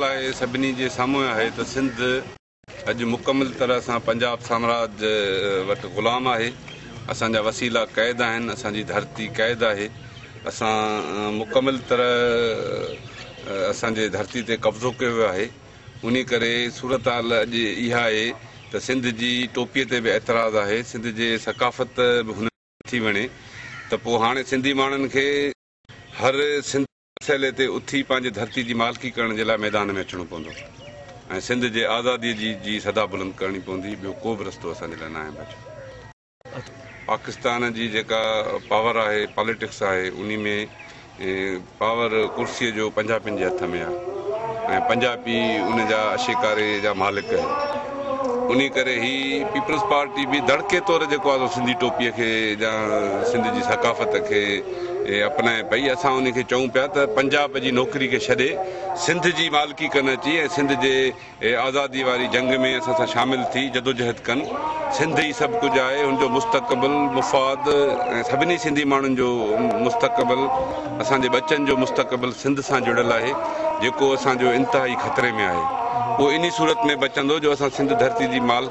لاء سڀني جي سامهون آهي ته سنڌ. اڄ مڪمل طرح سان پنجاب سامراج وٽ غلام آهي، اسان جا وسيلا قيد آهن، اسان جي ڌرتي قيد آهي، اسان مڪمل طرح اسان جي ڌرتي تي قبضو ڪيو ويو آهي، انهي ڪري صورتحال اڄ اها آهي ته سنڌ جي ٽوپي تي به اعتراض آهي، سنڌ جي ثقافت به هنن کي نٿي وڻي ته پوء هاڻي سنڌي ماڻهن کي هر سنڌ. مسئلي تي اٿي پنهنجي ڌرتي جي مالڪي ڪرڻ جي لاء ميدان ۾ اچڻو پوندو ۽ سنڌ جي آزادي جي جي صدا بلند ڪرڻي پوندي ٻيو ڪو به رستو اسان جي لاء ناهي بچو. پاڪستان جي جيڪا پاور آهي پاليٽڪس آهي انهي ۾ پاور ڪرسي جو پنجاپين جي هٿ ۾ آهي ۽ پنجاپي ان جا اشيڪاري جا مالڪ آهن انهي ڪري هي پيپلز پارٽي به دڙڪي طور جيڪو آزو سنڌي ٽوپي کي جا سنڌ جي ثقافت کي اپنائي پئي، اسان انهي کي چئون پيا ته پنجاب جي نوڪري کي ڇڏي سنڌ جي مالڪي ڪن اچي ۽ سنڌ جي آزادي واري جنگ ۾ اسان سان شامل ٿي جدوجهد ڪن، سنڌ ئي سڀ ڪجهه آهي، ان جو مستقبل، مفاد ۽ سڀني سنڌي ماڻهن جو مستقبل، اسان جي ٻچن جو مستقبل سنڌ سان جڙيل آهي، جيڪو اسان جو انتهائي خطري ۾ آهي، اهو انهي صورت ۾ بچندو جو اسان سنڌ ڌرتي جي مالڪ.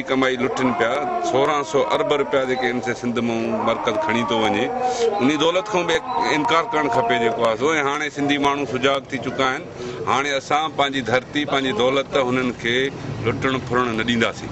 جي ڪمائي لٽين پيا، سورهن سئو ارب رپيا جيڪي ايم سي سنڌ مئون مرڪز کڻي ٿو وڃي، انهي دولت کان به انڪار ڪرڻ کپي جيڪو آهي سو ۽ هاڻي سنڌي ماڻهو سجاڳ ٿي چڪا آهن، هاڻي اسان پنهنجي ڌرتي، پنهنجي دولت هنن کي لٽڻ ڦرڻ نه ڏينداسين.